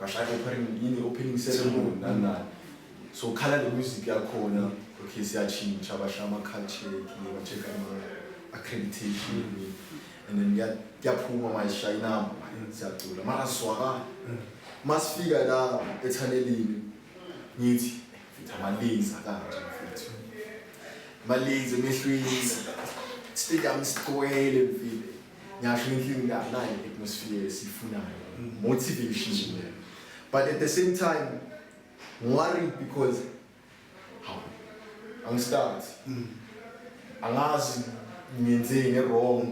bashaya opening yini opening ceremony nani nani so khala le music yakhona okay siyatshintsha bashaya ama-culture ba-check ama-accreditation and then kuya- kuyaphuma manje sishaya inamba manje siyacula mara sizwakala masifika la ethanelini ngithi mfethu amalenza kanje mfethu amalenza emehlweni stadium sigcwele mfile ngyasho inkinga inganayo i-atmosphere esiyifunayo motivation nje but at the same time worried because hawu angistart angazi ngenzeni nge-wrong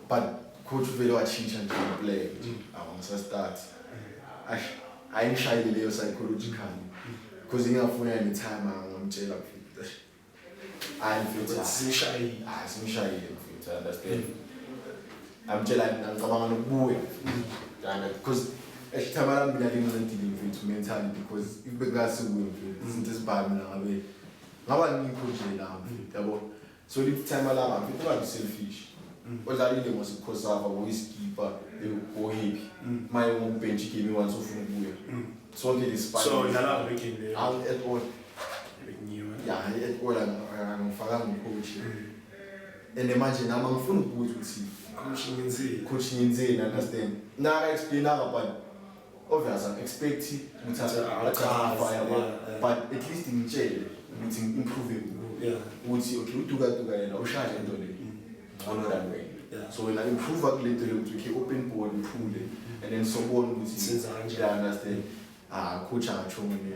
but coach uvele watshintsha nje ngeplay nje awu ngisastart ash ayingishayile leyo psychological because ingafuna any time angamtshela kufika hayi mfethu Ukuthi simshayile hayi simshayile mfethu I understand amtshela ngicabanga nokubuya Yanga, because esithaba lami mina lincedile mfethu mentally because if bekungasukuyo mfethu izinto ezibhami mina ngabe ngaba ngikho nje la mfethu yabo so lithi time lama mfethu ungabi selfish odlalile ngosikhosafa ngoyiskipa ngoyiphi maye ngombhentshi game once ufuna ukubuya Sonke so isipani. dlala ngale game leyo. Ang at all. Bengiwe. Ya, hayi at all ang- angifakanga ucoach. And manje nami angifuni ukubuza ukuthi Coach ngenzile. coach ngenzeni understand. Naka explain aka but obvious I'm expect ukuthi Achaze, achafa yabo. yeah. But at least ngitshele ukuthi ngi-improve Yeah. ukuthi okay uduka duka yena ushaya into le. ngcono than wena Yeah. so wena improve kulento yokuthi ukhe open board uthule and then sobona ukuthi Senza kanjani. Yeah, understand ah kutsha ngisho mina